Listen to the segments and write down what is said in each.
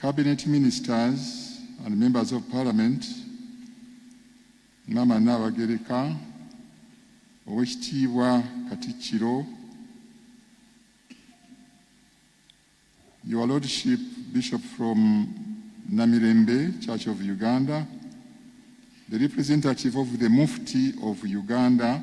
Cabinet Ministers and Members of Parliament, Maama Nnaabagereka, Owekitiibwa Katikkiro, Your Lordship Bishop from Namirembe Church of Uganda, the representative of the Mufti of Uganda,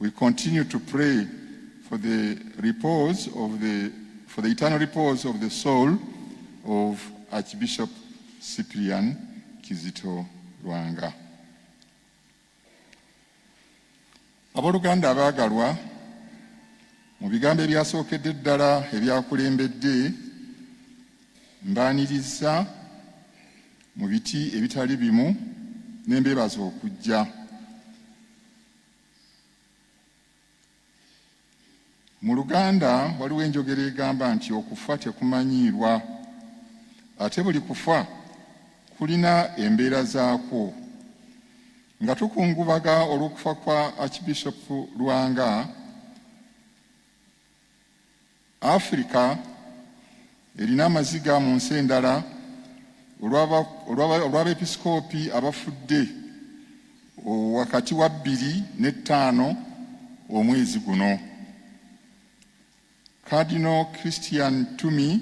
We continue to pray for the repose of the for the eternal repose of the soul of Archbishop Cyprian Kizito Lwanga. Aboluganda abaagalwa mu bigambo ebyasookedde ddala ebyakulembedde mbaaniriza mu biti ebitali bimu n'embeebaza okujja Mu Luganda waliwo enjogera egamba nti okufa tekumanyiirwa, ate buli kufa kulina embeera zaakwo. Nga tukungubaga olw'okufa kwa Archbishop Lwanga, Afirika erina amaziga mu nsi endala olw'abeepisikoopi abafudde wakati wa bbiri ne ttaano omwezi guno. Cardinal Christian Tumi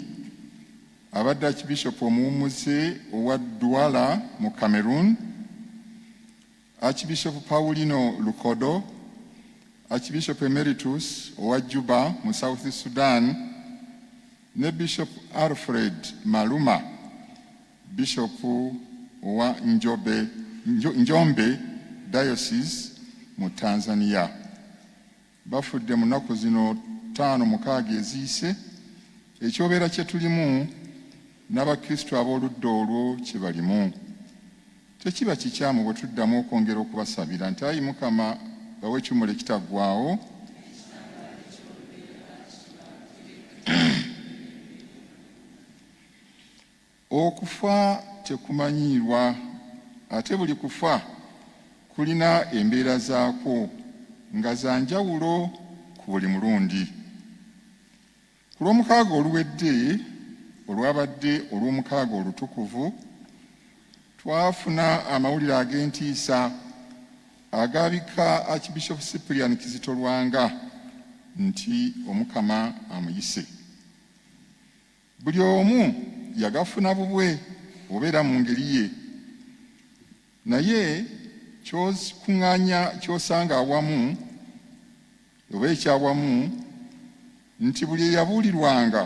abadde Archbishop omuwummuze owa Douala mu Cameroon Archbishop Paulino Lukodo, Archbishop Emeritus owa Juba mu South Sudan ne Bishop Alfred Maluma, Bishop owa Njobe, Njombe Diocese mu Tanzania. bafudde mu nnaku zino ttaano mukaaga eziyise ekyobeera kye tulimu n'abakristu ab'oludda olwo kye balimu tekiba kikyamu bwe tuddamu okwongera okubasabira nti ayi mukama bawe ekiwumulo ekitaggwawo Okufa tekumanyiirwa ate buli kufa kulina embeera zaakwo nga za njawulo ku buli mulundi. Ku lw'omukaaga oluwedde olwabadde olw'omukaaga olutukuvu, twafuna amawulire ag'entiisa agaabika Archbishop Cyprian Kizito Lwanga nti Omukama amuyise. Buli omu yagafuna bubwe oba era mu ngeri ye, naye ky'okuŋŋaanya ky'osanga awamu oba ekyawamu nti buli eyabuulirwanga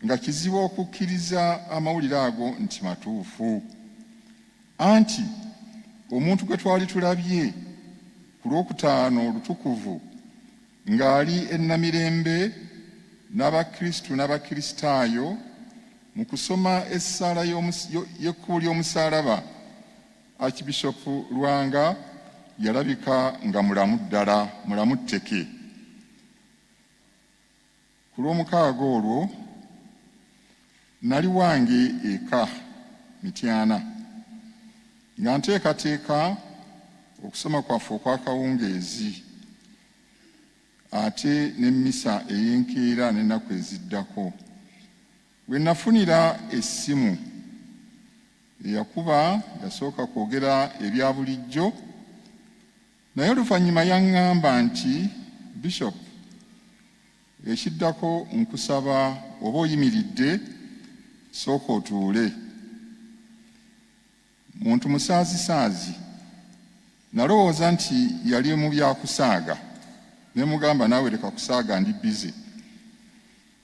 nga kizibu okukkiriza amawulire ago nti matuufu, anti omuntu gwe twali tulabye ku Lwokutaano olutukuvu Ng'ali e Namirembe n'Abakristu n'Abakristaayo mu kusoma essaala y'ekkubo ly'omusaalaba, Archbishop Lwanga yalabika nga mulamu ddala, mulamu tteke. Ku Lwomukaaga olwo nnali wange eka Mityana nga nteekateeka okusoma kwaffe okw'akawungeezi ate n'emmisa ey'enkeera n'ennaku eziddako we nafunira essimu eyakuba yasooka kwogera ebya bulijjo Naye oluvannyuma yaŋŋamba nti, Bishop, ekiddako nkusaba oba oyimiridde sooka otuule. Muntu musaazisaazi. Nalowooza nti yali mu bya kusaaga ne mugamba naawe leka kusaaga ndi bize.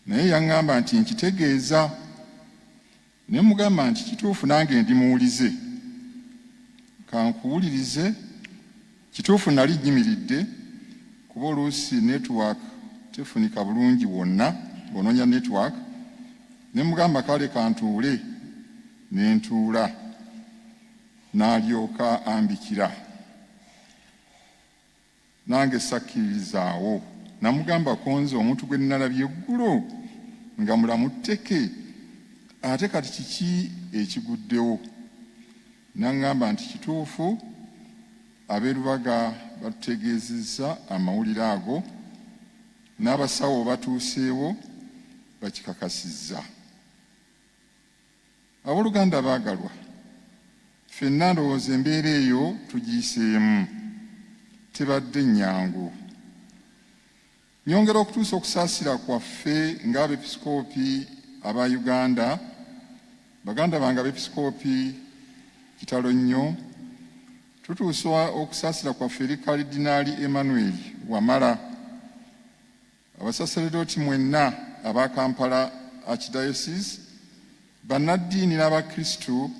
Naye yaŋŋamba nti, nkitegeeza Ne mmugamba nti, Kituufu, nange ndi muwulize. Ka nkuwulirize. Kituufu nnali nnyimiridde, kuba oluusi netiwaaka tefunika bulungi wonna ng'onoonya netiwaaka. Ne mmugamba, Kale ka ntuule. Ne ntuula. N'alyoka ambikira. Nange sakkiririzaawo namugamba ko nze omuntu gwe nnalabye eggulo nga mulamu tteke ate kati kiki ekiguddewo n'aŋŋamba nti kituufu ab'e Lubaga batutegeezezza amawulire ago n'abasawo batuuseewo bakikakasizza. Abooluganda abaagalwa, ffenna ndowooza embeera eyo tugiyiseemu, tebadde nnyangu. Nyongera okutuusa okusaasira kwaffe ng'abepisikoopi aba Uganda, baganda bange abepisikoopi kitalo nnyo, tutuusa okusaasira kwaffe eri Kalidinaali Emmanuel Wamala, Abasaseredooti mwenna aba Kampala Archdiocese, bannaddiini n'Abakristu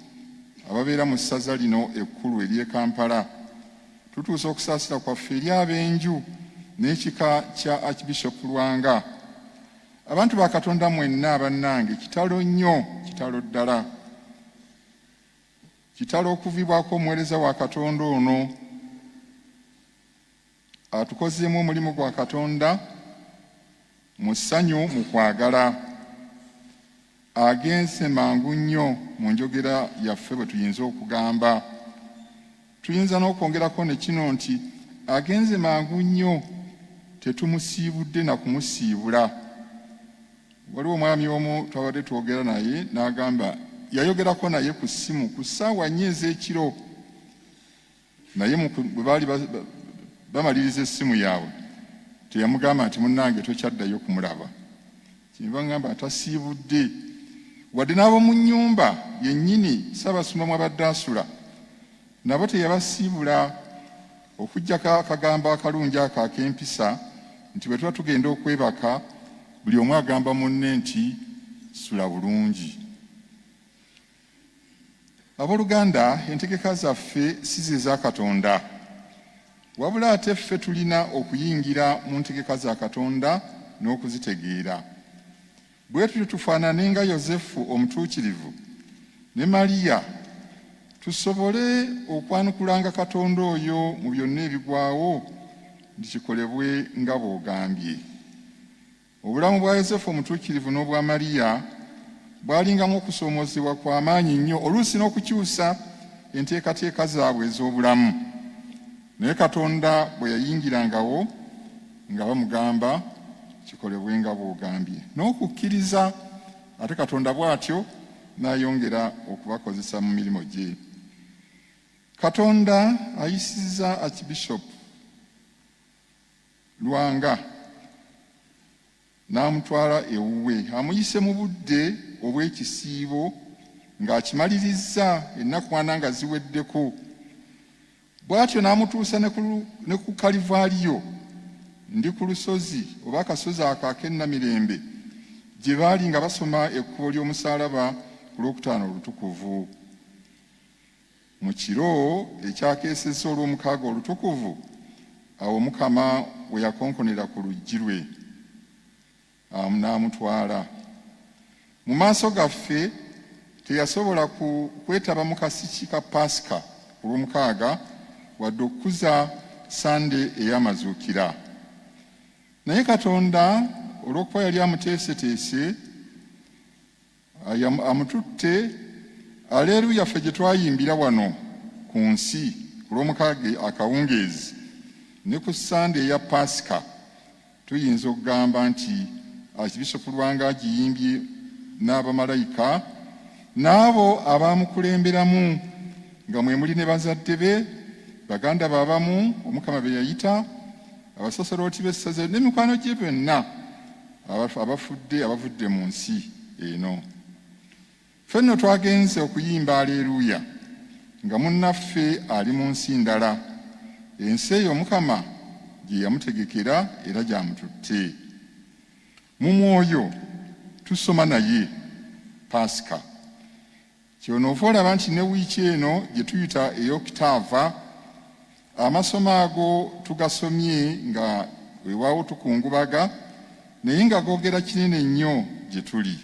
ababeera mu ssaza lino ekkulu ery'e Kampala, tutuusa okusaasira kwaffe eri ab'enju n'ekika kya Archbishop Lwanga. Abantu ba Katonda mwenna bannange, kitalo nnyo, kitalo ddala. Kitalo okuvibwako omuweereza wa Katonda ono Atukozeemu omulimu gwa Katonda mu ssanyu mu kwagala. Agenze mangu nnyo mu njogera yaffe bwe tuyinza okugamba. Tuyinza n'okwongerako ne kino nti agenze mangu nnyo tetumusiibudde na kumusiibula. Waliwo omwami omu twabadde twogera naye n'agamba yayogerako naye ku ssimu ku ssaawa nnya ez'ekiro naye bwe baali bamaliriza essimu yaabwe teyamugamba nti munnange tokyaddayo kumulaba kyenva ngamba atasiibudde wadde n'ab'omu nnyumba yennyini ssaabasumba mwabadde asula nabo teyabasiibula okuggyako akagambo akalungi ako ak'empisa nti bwe tuba tugenda okwebaka buli omu agamba munne nti sula bulungi Aboluganda, entegeka zaffe si ze za Katonda, wabula ate ffe tulina okuyingira mu ntegeka za Katonda n'okuzitegeera. Bwe tutyo tufaanane nga Yosefu omutuukirivu ne Maria tusobole okwanukulanga Katonda oyo mu byonna ebigwawo nti kikolebwe nga bw'ogambye. Obulamu bwa Yosefu omutuukirivu n'obwa Mariya bwalingamu okusoomoozebwa kwa maanyi nnyo, oluusi n'okukyusa enteekateeka zaabwe ez'obulamu. Naye Katonda bwe yayingirangawo nga bamugamba kikolebwe nga bw'ogambye n'okukkiriza, ate Katonda bw'atyo n'ayongera okubakozesa mu mirimu gye. Katonda ayisizza Archbishop Lwanga n'amutwala ewuwe amuyise mu budde obw'ekisiibo ng'akimalirizza ennakwana nga ziweddeko bw'atyo n'amutuusa ne ku kalivaaliyo ndi ku lusozi oba akasozi ako ak'ennamirembe gye baali nga basoma ekkubo ly'omusaalaba ku lwokutaano olutukuvu Mu kiro ekyakeesezza Olwomukaaga olutukuvu, awo Omukama we yakonkonera ku luggi lwe n'amutwala mu maaso gaffe. Teyasobola kwetaba mu kasiki ka Paasika ku Lwomukaaga wadde okukuza Ssande ey'Amazuukira. Naye Katonda olw'okuba yali amuteeseteese amututte aleeru yaffe gye twayimbira wano ku nsi ku lw'omukaaga akawungeezi ne ku ssande eya paasika tuyinza okugamba nti akibishopu lwanga agiyimbye n'abamalayika n'abo abaamukulemberamu nga mwe muli ne bazadde be baganda be abamu omukama be yayita abasasolooti b'essaza ne mikwano gye byonna abafudde abavudde mu nsi eno. Ffe nno twagenze okuyimba aleeruuya nga munnaffe ali mu nsi ndala, ensi eyo Mukama gye yamutegekera era gyamututte. Mu mwoyo tusoma naye Paasika. Kyonoova olaba nti ne wiiki eno gye tuyita ey'okutaava amasomo ago tugasomye nga wewaawo tukungubaga naye nga googera kinene nnyo gye tuli.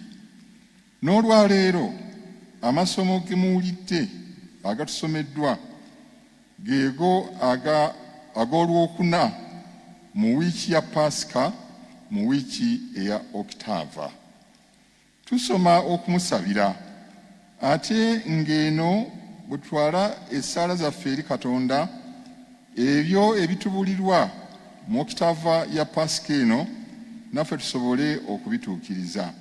N'olwaleero amasomo ge muwulidde agatusomeddwa geego ag'olwokuna mu wiiki ya Paasika mu wiiki eya Okitaava. Tusoma okumusabira ate ng'eno bwe tutwala essaala zaffe eri Katonda ebyo ebitubulirwa mu okitava ya Paasika eno naffe tusobole okubituukiriza.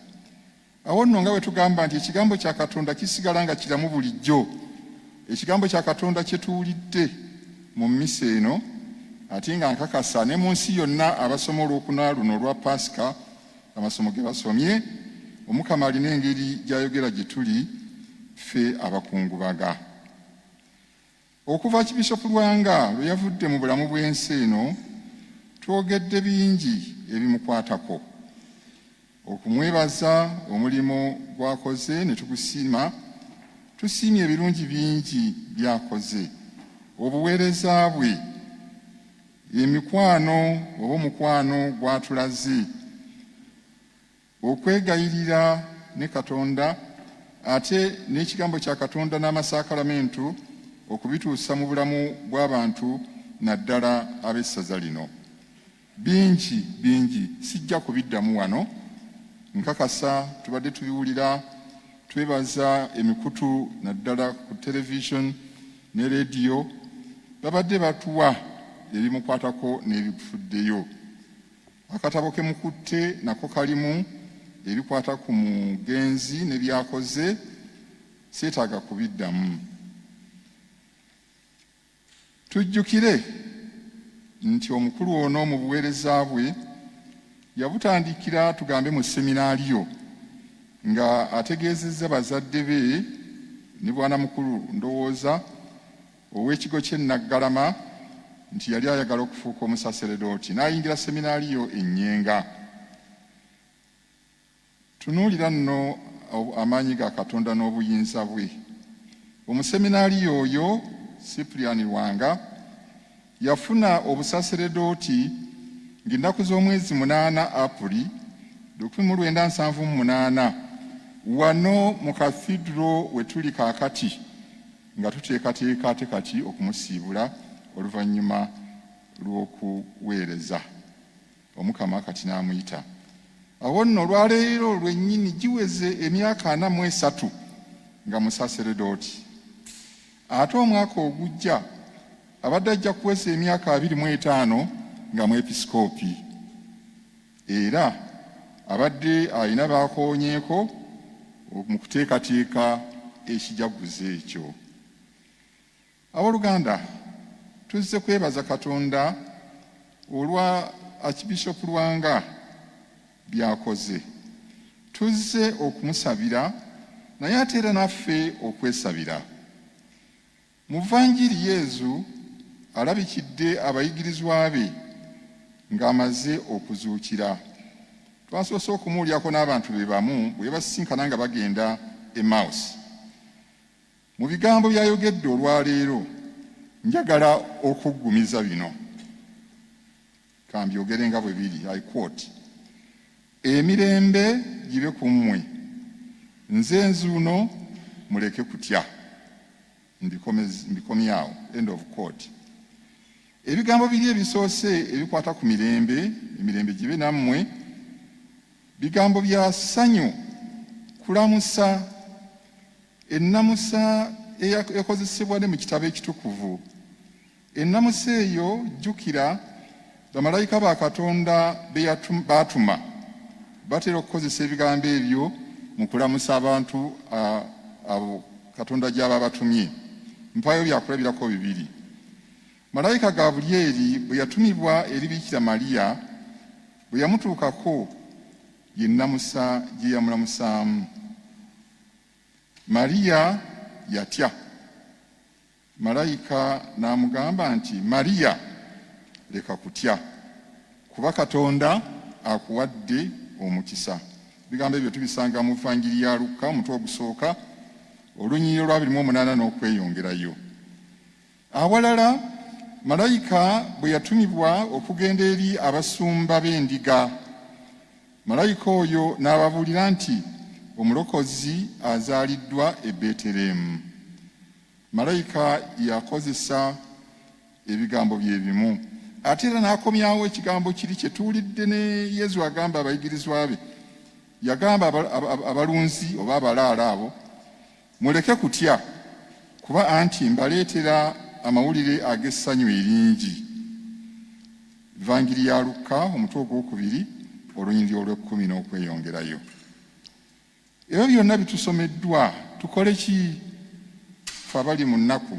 Awo nno nga bwe tugamba nti ekigambo kya Katonda kisigala nga kiramu bulijjo, ekigambo kya Katonda kye tuwulidde mu mmisa eno ate nga nkakasa ne mu nsi yonna abasoma olwokuna luno olwa Paasika amasomo ge basomye omukama alina engeri gy'ayogera gye tuli ffe abakungubaga okuva kibisopu lwanga lwe yavudde mu bulamu bw'ensi eno twogedde bingi ebimukwatako okumwebaza omulimu gwakoze ne tugusiima tusiimye ebirungi bingi byakoze obuweereza bwe Ye mikwano oba omukwano gw'atulaze. Okwegayirira ne Katonda ate n'ekigambo kya Katonda n'amasakalamentu okubituusa mu bulamu bw'abantu naddala ab'essaza lino. Bingi bingi sijja kubiddamu wano, nkakasa tubadde tubiwulira, twebaza emikutu naddala ku television ne leediyo babadde batuwa ebimukwatako n'ebifuddeyo. Akatabo ke mukutte nako kalimu ebikwata ku mugenzi ne byakoze seetaaga kubiddamu. Tujjukire nti omukulu ono mu buweereza bwe Yabutandikira tugambe mu seminaaliyo nga ategeezezza bazadde be ne bwana mukulu ndowooza ow'ekigo ky'e Naggalama nti yali ayagala okufuuka omusaseredooti n'ayingira seminaaliyo e Nyenga. Tunuulira nno amaanyi ga Katonda n'obuyinza bwe. Omuseminaaliyo oyo Cyprian Lwanga yafuna obusaseredooti ng'ennaku z'omwezi munaana Apuli lukumi mu lwenda nsanvu mu munaana wano mu kathidro we tuli kaakati nga tuteekateeka ate kati okumusiibula oluvannyuma lw'okuweereza. Omukama kati n'amuyita. Awo nno olwaleero lwennyini giweze emyaka ana mu esatu nga musaseredooti. Ate omwaka ogujja abadde ajja kuweza emyaka abiri mu etaano nga mwepisikoopi. Era abadde alina baakoonyeeko mu kuteekateeka ekijaguzo ekyo. Aboluganda tuzze kwebaza Katonda olwa Archbishop Lwanga byakoze. Tuzze okumusabira naye ate era naffe okwesabira. Mu Vanjiri Yezu alabikidde abayigirizwa be ng'amaze okuzuukira. Twasoose okumuwulyako n'abantu be bamu bwe basisinkana nga bagenda Emmaus. Mu bigambo by'ayogedde olwaleero njagala okuggumiza bino kambyogere nga bwe biri i quote emirembe gibe ku mmwe nze nzuuno muleke kutya mbikomyawo end of quote ebigambo biri ebisoose ebikwata ku mirembe emirembe gibe nammwe bigambo bya ssanyu kulamusa Ennamusa eyakozesebwa ne mu kitabo ekitukuvu. Ennamusa eyo jjukira bamalayika ba Katonda baatuma batera okukozesa ebigambo ebyo mu kulamusa abantu abo Katonda gy'aba abatumye. Mpaayo byakulabirako bibiri. Malayika Gabulyeri bwe yatumibwa eri Biikira Mariya bwe yamutuukako ye nnamusa gye yamulamusaamu. Mariya yatya. Malayika n'amugamba nti, Mariya, leka kutya, kuba Katonda akuwadde omukisa. Ebigambo ebyo tubisanga mu Vangiri ya Lukka omutwe ogusooka olunyiriro lwa biri mu omunaana n'okweyongerayo. Awalala malayika bwe yatumibwa okugenda eri abasumba b'endiga, malayika oyo n'ababuulira nti omulokozi azaaliddwa e Beetereemu. Malayika yakozesa ebigambo bye bimu ate era n'akomyawo ekigambo kiri kye tuwulidde ne Yezu agamba abayigirizwa be, yagamba abalunzi oba abalaalo abo Muleke kutya, kuba anti mbaleetera amawulire ag'essanyu eringi. Evangili ya Lukka omutwe ogwokubiri olunyiriri olw'ekkumi n'okweyongerayo. Ebyo byonna bitusomeddwa tukole ki fe abali mu nnaku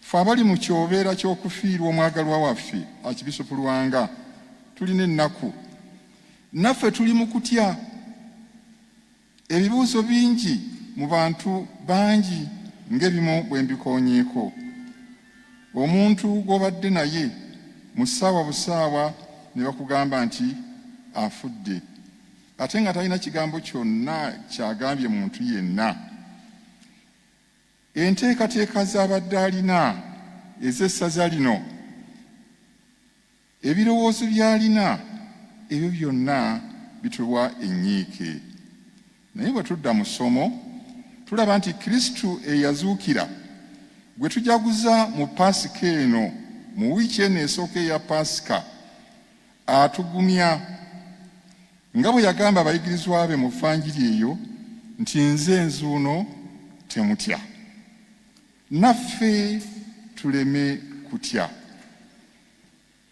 fe abali mu kyobeera ky'okufiirwa omwagalwa waffe akibisupulwanga tulina ennaku naffe tuli mu kutya Ebibuuzo bingi mu bantu bangi ng'ebimu bwe mbikoonyeeko. Omuntu gw'obadde naye mu ssaawa busaawa ne bakugamba nti afudde ate nga talina kigambo kyonna kyagambye muntu yenna. Enteekateeka z'abadde alina ez'essaza lino Ebirowoozo by'alina ebyo byonna bituwa ennyiike. Naye bwe tudda mu ssomo, tulaba nti Kristo eyazuukira, gwe tujaguza mu Paasika eno, mu wiiki eno esooka eya Paasika, atugumya nga bwe yagamba abayigirizwa be mu Vanjiri eyo nti nze nzuuno temutya. Naffe tuleme kutya.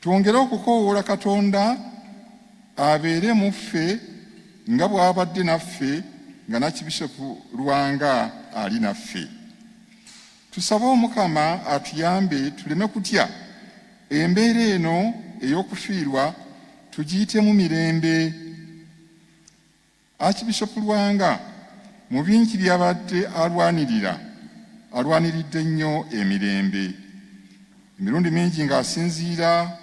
Twongere okukoowoola Katonda abeere mu ffe nga bw'abadde naffe nga Nakibisopu Lwanga ali naffe. Tusabe Omukama atuyambe tuleme kutya embeera eno ey'okufiirwa tugiyitemu mirembe. Archbishop Lwanga mu bingi by'abadde alwanirira alwaniridde nnyo emirembe emirundi mingi ng'asinziira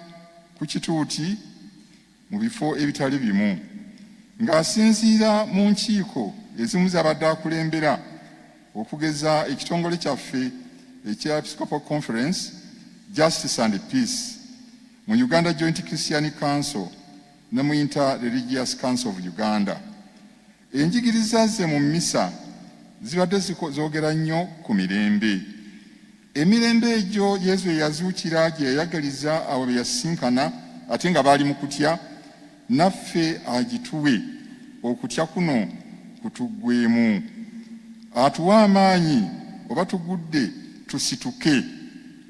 ku kituuti mu bifo ebitali bimu ng'asinziira mu nkiiko ezimu z'abadde akulembera okugeza ekitongole kyaffe ekya Episcopal Conference Justice and Peace mu Uganda Joint Christian Council ne mu Inter Religious Council of Uganda. Enjigiriza ze mu mmisa zibadde zoogera nnyo ku mirembe. Emirembe egyo Yezu eyazuukira gye yayagaliza abo be yasisinkana ate nga baali mu kutya, naffe agituwe okutya kuno kutuggwemu. Atuwa amaanyi oba tugudde tusituke.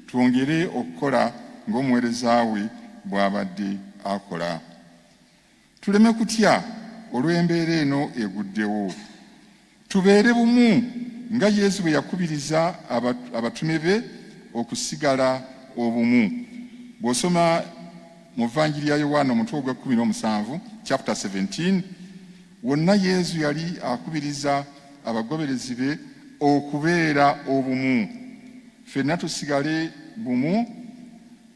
Twongere okukola ng'omuweereza we bw'abadde akola. Tuleme kutya olw'embeera eno eguddewo. Tubeere bumu nga Yesu bwe yakubiriza abatume be okusigala obumu. Bw'osoma mu Vanjiri ya Yowaana omutwe ogw'ekkumi n'omusanvu chapter 17 Wonna Yezu yali akubiriza abagoberezi be okubeera obumu. Ffenna tusigale bumu,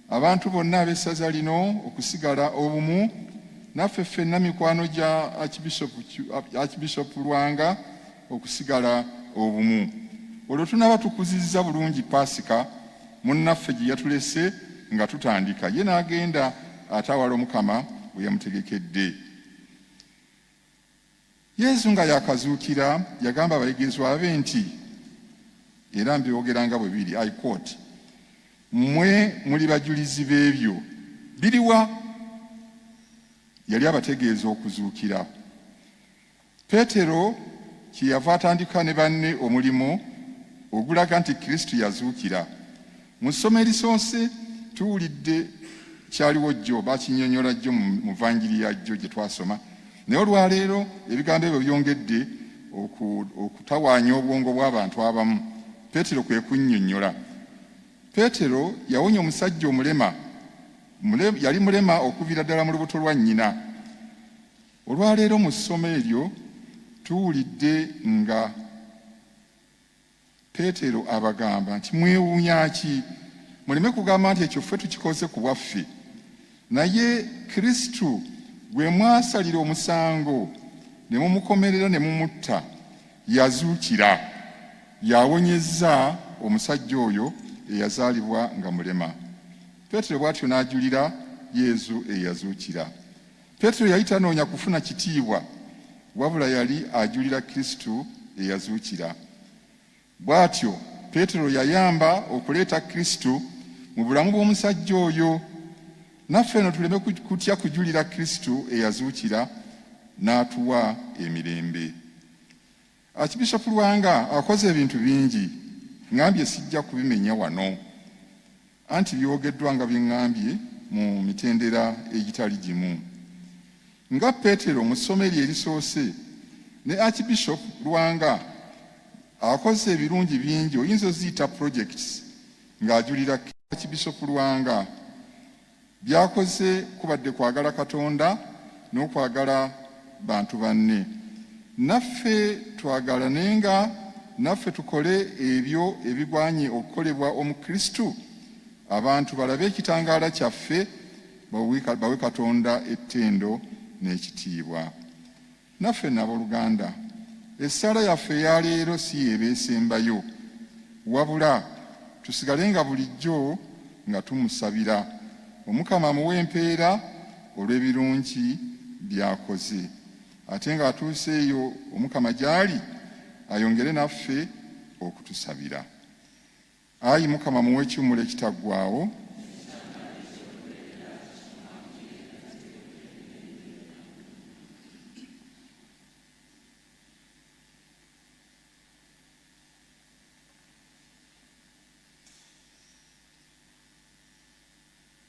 abantu bonna ab'essaza lino okusigala obumu, naffe ffenna mikwano gya Archbishop Lwanga okusigala obumu. Olwo tunaaba tukuzizza bulungi Paasika munnaffe gye yatulese nga tutandika, ye n'agenda atawala Omukama we yamutegekedde. Yesu nga yakazuukira yagamba abayigirizwa be nti era mbyogera nga bwe biri i quote mmwe muli bajulizi b'ebyo biriwa yali abategeeza okuzuukira peetero kyeyava atandika ne banne omulimu ogulaga nti kristo yazuukira Mu ssomo erisoose tuwulidde kyaliwo jjo, bakinyonyola jjo mu vanjiri ya jjo gye twasoma, naye olwaleero ebigambo ebyo byongedde okutawaanya obwongo bw'abantu abamu. Peetero kwe kunnyonnyola. Peetero yawonya omusajja omulema, yali mulema okuviira ddala mu lubuto lwa nnyina. Olwaleero mu ssomo eryo tuwulidde nga Peetero abagamba nti, Mwewuunya ki? Muleme kugamba nti ekyo ffe tukikoze ku bwaffe, naye Kristo gwe mwasalira omusango ne mumukomerera ne mumutta, yazuukira, yawonyezza omusajja oyo eyazaalibwa nga mulema. Peetero bw'atyo n'ajulira Yezu eyazuukira. Petero yali tanoonya kufuna kitiibwa, wabula yali ajulira Kristo eyazuukira. Bw'atyo Petero yayamba okuleeta Kristo mu bulamu bw'omusajja oyo. Naffe eno tuleme kutya kujulira Kristo eyazuukira n'atuwa emirembe. Archbishop Lwanga akoze ebintu bingi ngambye sijja kubimenya wano anti byogeddwa nga byengambye mu mitendera egitali gimu nga Petero mu ssomo eryo erisoose ne Archbishop Lwanga akoze ebirungi bingi oyinza oziyita projects ng'ajulira Archbishop Lwanga By'akoze kubadde kwagala Katonda n'okwagala bantu banne. Naffe twagalanenga, naffe tukole ebyo ebigwanye okukolebwa Omukristu, abantu balabe ekitangaala kyaffe, bawe Katonda ettendo n'ekitiibwa. Naffe nno aboluganda, essaala yaffe eya leero si y'eba esembayo, wabula tusigale nga bulijjo nga tumusabira, Omukama amuwe empeera olw'ebirungi by'akoze, ate ng'atuuse eyo Omukama gy'ali ayongere naffe okutusabira. Ayi Mukama muwe ekiwummulo ekitaggwaawo.